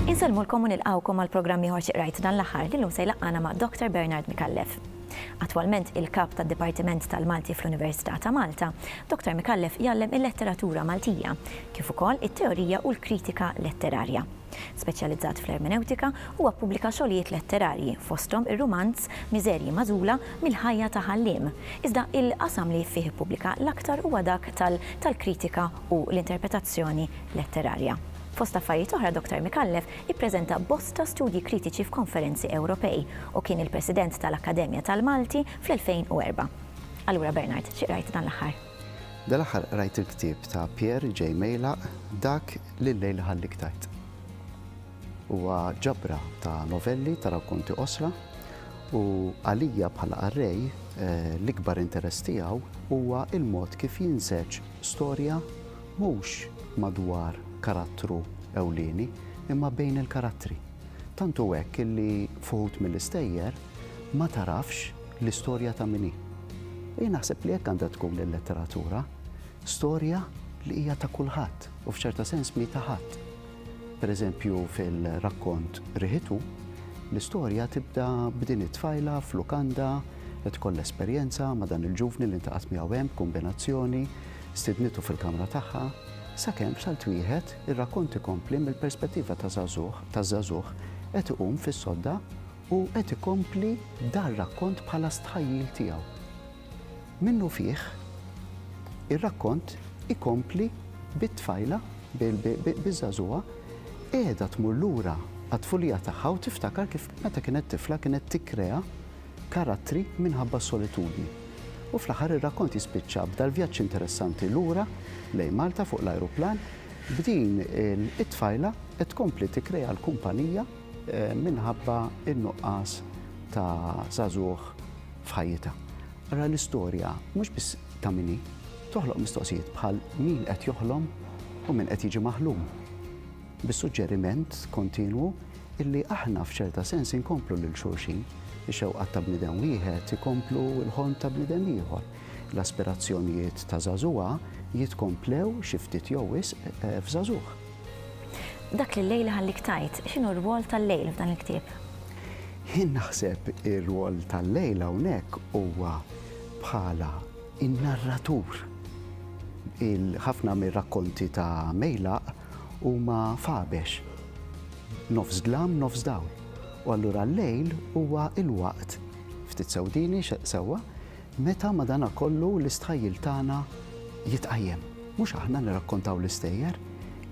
Insellmulkom u nilqgħukom għal programm ieħor xi qrajt dan l-aħħar li llum se jlaqqana ma' Dr. Bernard Micallef. Attwalment il-Kap tad-Dipartiment tal-Malti fl-Università ta' Malta, Dr. Micallef jgħallem il-letteratura Maltija, kif ukoll it-teorija u l-kritika letterarja. Speċjalizzat fl-ermenewtika, huwa ppubblika xogħlijiet letterarji, fosthom ir-rumanz Miżerji magħżula mill-ħajja ta' Ħalliem, iżda l-qasam li fih ippubblika l-aktar huwa dak tal tal-kritika u l-interpretazzjoni letterarja. Fost affarijiet oħra Doktor Micallef ippreżenta bosta studji kritiċi f'konferenzi Ewropej u kien il-President tal-Akkademja tal-Malti fl-2004. Allura Bernard, xi qrajt dan l-aħħar? Dal-aħħar qrajt il-ktieb ta' Pierre J. Meylak, Dak li l-lejl iħallik tgħid. Huwa ġabra ta' novelli ta' rakkonti qosra u għalija bħala qarrej l-ikbar interess tiegħu huwa l-mod kif jinseġ storja mhux madwar karattru ewlieni imma bejn il-karattri. Tant hu hekk illi f'uħud mill-istejjer ma tarafx L-istorja ta' min hi? Jien naħseb li hekk għandha tkun il-letteratura, storja li hija ta' kulħadd u f'ċerta sens mhi ta' ħadd. Pereżempju fil-rakkont Riħitu, l-istorja tibda b'din it-tfajla f'lukanda qed tkollha esperjenza ma' dan il-ġuvni li ntaqgħet miegħu hemm b'kumbinazzjoni, stidnitu fil-kamra tagħha, sakemm b'salt wieħed ir-rakkont ikompli mill-perspettiva ta' żagħżugħ taż-żagħżugħ qed iqum fis-sodda U qed ikompli dar-rakkont bħala stħajjil tiegħu. Minnufih, ir-rakkont ikompli bit-tfajla, biż-żagħżugħa, qiegħda tmur lura għat-tfulija tagħha u tiftakar kif meta kienet tifla kienet tikkrea karattri minħabba s-solitudni. U fl-aħħar ir-rakkont jispiċċa b'dal-vjaġġ interessanti lura lejn Malta fuq l-ajruplan b'din it-tfajla qed tkompli tikkrea l-kumpanija minħabba n-nuqqas ta' żagħżugħ f'ħajjitha. Ara l-istorja mhux biss ta' min hi, toħloq mistoqsijiet bħal min qed joħlom u min qed jiġi maħlum. Bis-suġġeriment kontinwu illi aħna f'ċerta sens inkomplu lil xulxin, ix-xewqat ta' bniedem wieħed ikomplu l-ħolm ta' bniedem ieħor. L-aspirazzjonijiet ta' żagħżugħa jitkomplew xi ftit jew wisq f'żagħżugħ. Dak li l-lejl iħallik tgħid, x'inhu r-rwol tal-lejl f'dan il-ktieb? Jien naħseb ir-rwol tal-lejl hawnhekk huwa bħala in-narratur. Ħafna mir-rakkonti ta' Mejlaq huma fabex, nofs dlam, nofs dawl. U allura l-lejl huwa l-waqt, ftit sewdini sewwa, Meta, madanakollu, l-istħajjil tagħna jitqajjem. Mhux aħna nirrakkontaw l-istejjer,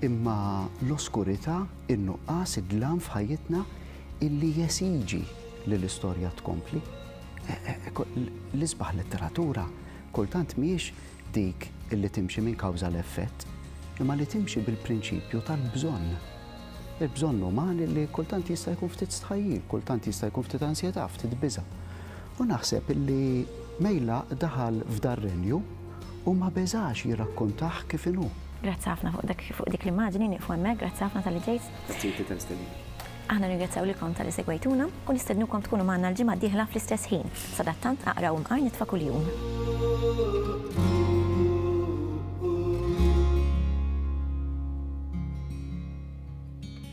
imma l-oskurità, in-nuqqas, id-dlam f'ħajjitna illi jesiġi li l-istorja tkompli. L-isbaħ letteratura kultant mhijiex dik illi timxi minn kawża għal effett, imma li timxi bil-prinċipju tal-bżonn. Il-bżonn uman illi kultant jista' jkun ftit stħajjil, kultant jista' jkun ftit ansjetà, ftit biża'. U naħseb li Meylaq daħal f'dar-renju u ma beżax jirrakkontah kif inhu. Grazzi ħafna fuq dak, fuq dik l-immaġini, nieqfu hemmhekk, grazzi ħafna talli ġejt. Grazzi lilek tal istedina. Aħna nirringrazzjaw lilkom talli segwejtuna u nistednukom tkunu magħna l-ġimgħa d-dieħla fl-istess ħin. Sadattant aqraw imqar nitfa' kuljum.